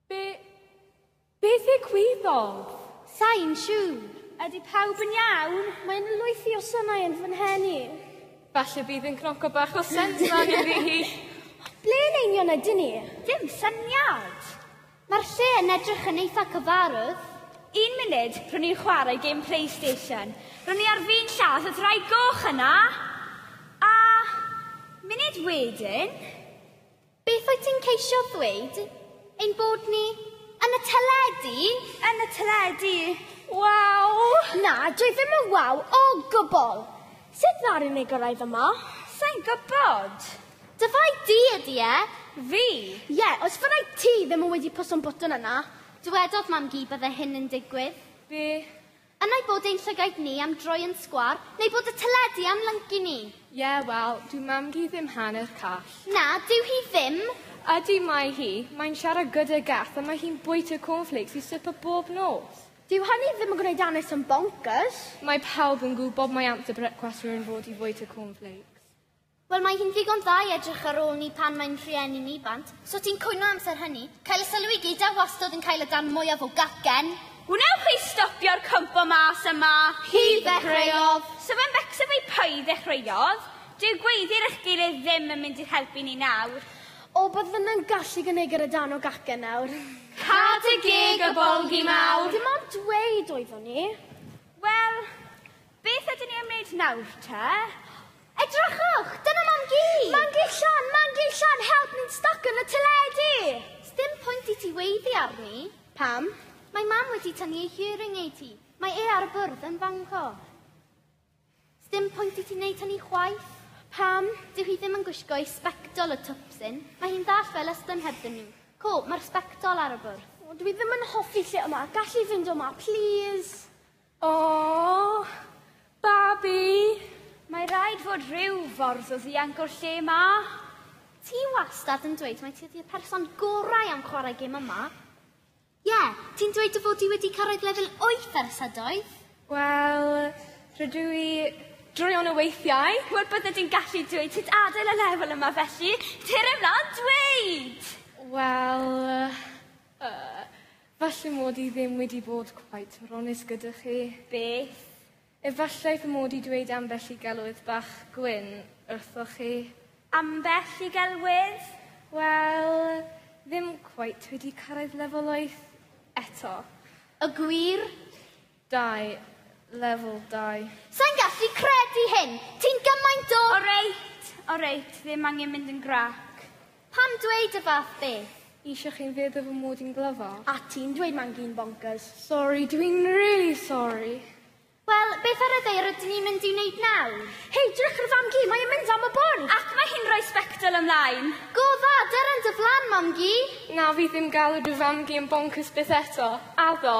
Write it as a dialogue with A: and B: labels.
A: Be... Beth yw cwyddog? Sain
B: siŵr. Ydy pawb
C: yn iawn? Mae'n lwythi o
B: synau yn fy nhenu. Falle bydd
A: yn cnoco bach o sens fan iddi hi. Ble yn
B: union ydyn ni? Dim syniad.
C: Mae'r lle
B: yn edrych yn eitha cyfarwydd. Un munud,
C: rwy'n i'n chwarae gêm Playstation. Rwy'n i ar fin lladd y ddraig goch yna! A munud wedyn...
B: Beth wyt ti'n ceisio ddweud? Ein bod ni yn y teledu? Yn y teledu!
C: Waw!
B: Na, dwi ddim yn waw o gwbl! Sut ddaru ni gyrraedd yma? Sa'n gwybod!
C: Dy fai di
B: ydi e? Fi?
C: Ie, os
B: fyddai ti ddim yn wedi pwso'n botwm yna. Dywedodd Mam-gu bydde hyn yn digwydd. Be?
A: Yn ei bod
B: ein llygaid ni am droi yn sgwar, neu bod y teledu am lyncu ni. Ie, wel,
A: dyw Mam-gu ddim hanner call. Na, dyw hi
B: ddim! Ydi, mae
A: hi. Mae'n siarad gyda Garth a mae hi'n bwyta cornflakes i swper bob nos. Dyw hynny ddim yn
B: gwneud Annis yn boncyrs. Mae pawb yn
A: gwybod mai amser brecwast rwy'n fod i fwyta cornflakes. Wel, mae
B: hi'n ddigon dda i edrych ar ôl ni pan mae'n rhieni'n ifanc. So ti'n cwyno amser hynny? Cael y sylw i gyd a wastod yn cael y darn mwyaf o gacen. Wnewch chi
C: stopio'r cwmpo mas a ma? Hi
B: ddechreuodd. So fe'n becso
C: fi pwy ddechreuodd? Dyw gweiddi'r eich gilydd ddim yn mynd i'ch helpu ni nawr. O, bydd fyna'n
B: gallu gynigr y darn o gacen nawr. Cad y
C: gig y bolgi mawr! Dim ond dweud
B: oeddwn i. Wel,
C: Beth ydyn ni am wneud nawr te? Edrychwch!
B: Dyna Mam Gi! Mam Gi Llan! Mam Gi Llan! Help! Ni'n styc yn y teledu! Sdim pwynt i ti weiddi arni. Pam? Mae Mam wedi tynnu ei hearing aid hi. Mae e ar y bwrdd yn fanco. Sdim pwynt i ti wneud hynny chwaith. Pam? Dyw hi ddim yn gwisgo ei sbectol y twpsyn. Mae hi'n ddall fel ystyn hebddyn nhw. Co, mae'r sbectol ar y bwrdd. O, dwi ddim yn hoffi lle yma. Gall hi fynd o 'ma, plîs? O!
A: Babi! Mae
C: rhaid fod rhyw fordd o ddianc o'r lle ma. Ti
B: wastad yn dweud mai ti ydi'r person gorau am chwarae gêm yma. Ie, ti'n dweud dy fod ti wedi cyrraedd lefel wyth ers ydoedd? Wel,
A: rydw i droion o weithiau. Wel, bydde ti'n gallu
C: dweud sut adael y lefel yma felly. Cer ymlaen, dweud! Wel,
A: yy, Falle mod i ddim wedi bod cweit mor onest gyda chi. Beth?
C: Efallai
A: fy mod i dweud ambell i gelwydd bach gwyn wrthoch chi. Ambell i
C: gelwydd? Wel,
A: ddim cweit wedi cyrraedd lefel wyth eto. Y
B: gwir Dau.
A: Level dau. Sai'n gallu
B: credu hyn! Ti'n gymaint o... Oreit,
C: oreit, ddim angen mynd yn grac. Pam dweud
B: y fath beth? Eisiau chi'n feddwl
A: fy mod i'n glyfar? A ti'n dweud mae'n
B: gyn bonkers. Sori, dw i'n
A: rili sori. Wel,
B: beth ar y ddaear ydyn ni'n mynd i wneud nawr? Hei, drych ar y fam-gu, mae e'n mynd am y bwrdd! Ac mae hi'n rhoi
C: sbectol ymlaen! Go dda, dyrra
B: yn dy flan, mam-gu! Na, fi ddim
A: galw dy fam-gu yn bonkers byth eto. Addo.